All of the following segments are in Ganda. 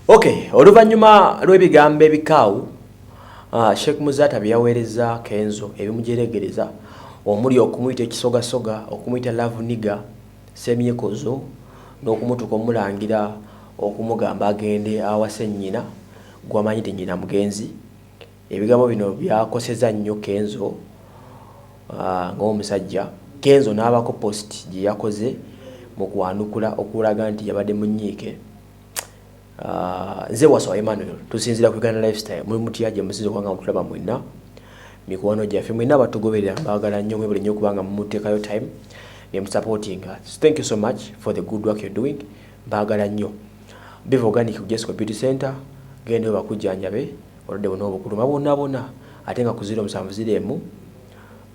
Okay, oluvannyuma lw'ebigambo ebikaawu uh, Sheikh Muzaata bye yaweereza Kenzo ebimujeregereza omuli okumuyita ekisogasoga, okumuyita love nigga, semyekozo n'okumutuka omulangira okumugamba agende awase nnyina gwamanyi nti nnyina mugenzi Ebigambo bino byakoseza nnyo Kenzo ng'omusajja, Kenzo n'abako post gye yakoze mu kwanukula okulaga nti yabadde munyiike. Nze Wasswa Emmanuel tusinzira ku Uganda Lifestyle, muli mutya gye musinza okuba nga mutulaba mwenna mikwano gyaffe mwenna abatugoberera mbagala nnyo mwebale nnyo kubanga mumuteekayo time ne musupportinga thank you so much for the good work you're doing mbagala nnyo biva organic jesco beauty center gendayo bakujjanjabe Obulwadde buno obukuluma bwonabwona ate nga ku ziro musanvu ziro emu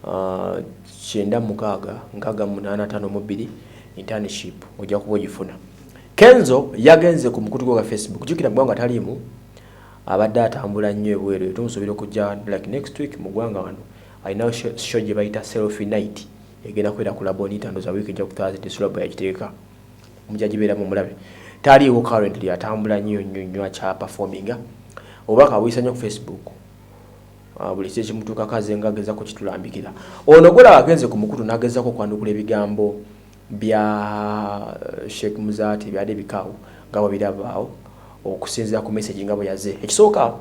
ah, kyenda mukaaga nkaaga munaana tano mu bbiri internship ojja kuba ogifuna. Kenzo yagenze ku mukutu gwe gwa Facebook jukira ggwanga taliimu abadde atambula nnyo ebweru eyo tumusuubira okujja like next week mu ggwanga wano alinawo show gye bayita selfie night egenda kubeera ku labonita ndoza wiiki ejja ku thursday sulabo yagiteeka Omujaji beera mumulabe taliiwo currently atambula nyo nyo nyo akya performinga oba kawisa nyo ku Facebook ah, buli kye kimutuka kaze nga ageza kukitulambikira ono gola agenze ku mukutu nageza ko kwandukula ebigambo bya eh, Sheikh Muzati byade bikawo nga bwe birabaawo okusinzira ku message nga bwe yaze ekisooka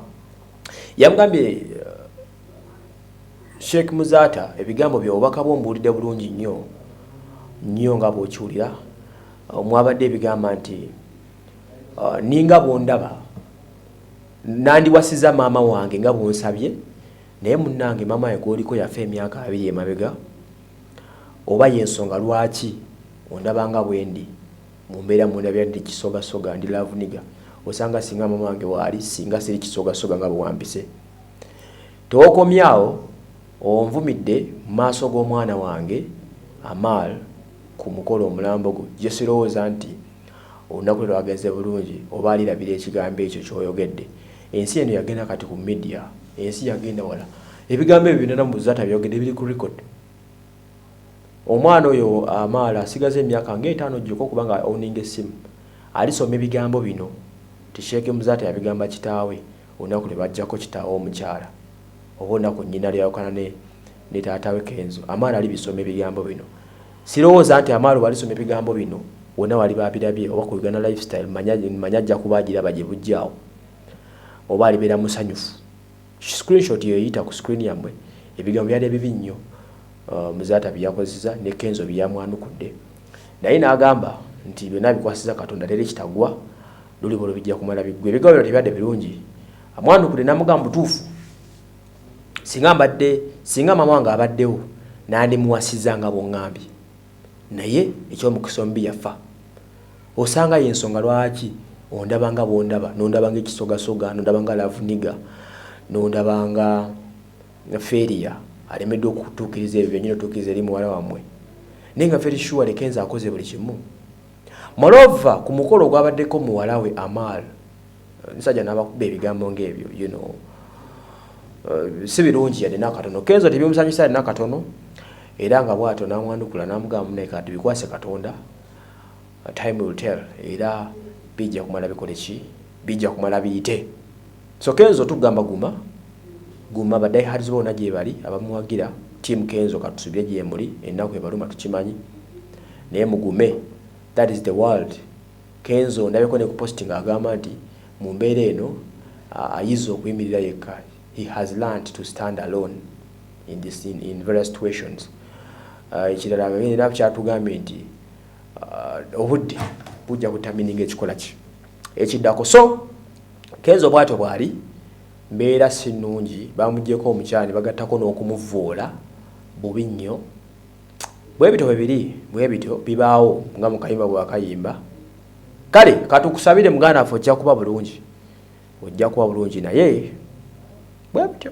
yamugambye eh, Sheikh Muzaata ebigambo byo obubaka bwo mbuwulidde bulungi nnyo nnyo nga bw'okiwulira mwabadde ebigamba nti uh, ninga bw'ondaba nandiwasiza maama wange nga bw'onsabye naye munnange maama we gwoliko yafa emyaka abiri emabega oba y'ensonga lwaki ondaba nga bwendi mu mbeera mundabira ndi kisogasoga ndi lavuniga osanga singa maama wange waali singa siri kisogasoga nga bwewampise Tewokomye awo, onvumidde mu maaso g'omwana wange Amaal ku mukolo omulambo gwo gye sirowooza nti olunaku lwe lwagenze bulungi oba alirabira ekigambo ekyo ky'oyogedde. Ensi eno yagenda kati ku media, ensi yagenda wala. Ebigambo ebyo byonna Namuzaata by'oyogedde biri ku record. Omwana oyo Amaal asigaza emyaka nga etaano gyokka okuba nga a owninga essimu, alisoma ebigambo bino nti Sheikh Muzaata yabigamba kitaawe. Olunaku lwe bajjako kitaawe omukyala oba olunaku nnyina lwe yawukana ne ne taata we Kenzo, Amaalo alibisoma ebigambo bino. Sirowooza nti Amaalo bw'alisoma ebigambo bino wonna w'aliba abirabye oba ku Uganda Lifestyle manya manya ajja kuba agiraba gye bujja awo oba alibeera musanyufu. Screenshot eyo eyita ku screen yammwe ebigambo byali ebibi nnyo uh, Muzaata bye yakozeseza ne Kenzo bye yamwanukudde naye n'agamba nti byonna abikwasiza Katonda leero ekitagwa luli bolo bijja kumala bigwe ebigambo byo tebibadde birungi amwanukudde namugamba butuufu singa mbadde singa maama wange abaddewo nandimuwasiza nga bwongambye naye ekyomukisa omubi yafa osanga ye ensonga lwaki ondaba nga bwondaba nondaba nga ekisogasoga nondaba nga lavuniga nondaba nga feria alemeddwa okutuukiriza ebyo byenyini otuukiriza eri muwala wammwe naye nga feri shuwa lekenza akoze buli kimu Moreover ku mukolo ogwabaddeko muwala we Amaal omusajja n'abakuba ebigambo ng'ebyo you know uh, si birungi yadde n'akatono kenzo tebimusanyusa yadde n'akatono era nga bw'atyo n'amwanukula n'amugamba naye kati bikwase katonda uh, time will tell era bijja kumala bikole ki bijja kumala biyite so kenzo tugamba guma guma badaihards boona gyebali abamuwagira tiamu kenzo katusubire gyemuli ennaku ebaluma tukimanyi Naye mugume that is the world Kenzo ndabeko ne ku posting agamba nti mumbeera eno ayize okuyimirira yekka he has learnt to stand alone in this in, in various situations uh, ekirala uh, era kyatugambye nti uh, obudde bujja kutamininga ekikola ki ekiddako so Kenzo bwatyo bwali mbeera si nnungi bamugyeko omukyani bagattako n'okumuvuula bubi nnyo Bwebityo bwe biri, bwebityo bibaawo nga mu kayimba bwe wakayimba. Kale katukusabire muganda waffe ojja kuba bulungi. Ojja kuba bulungi naye bwebityo.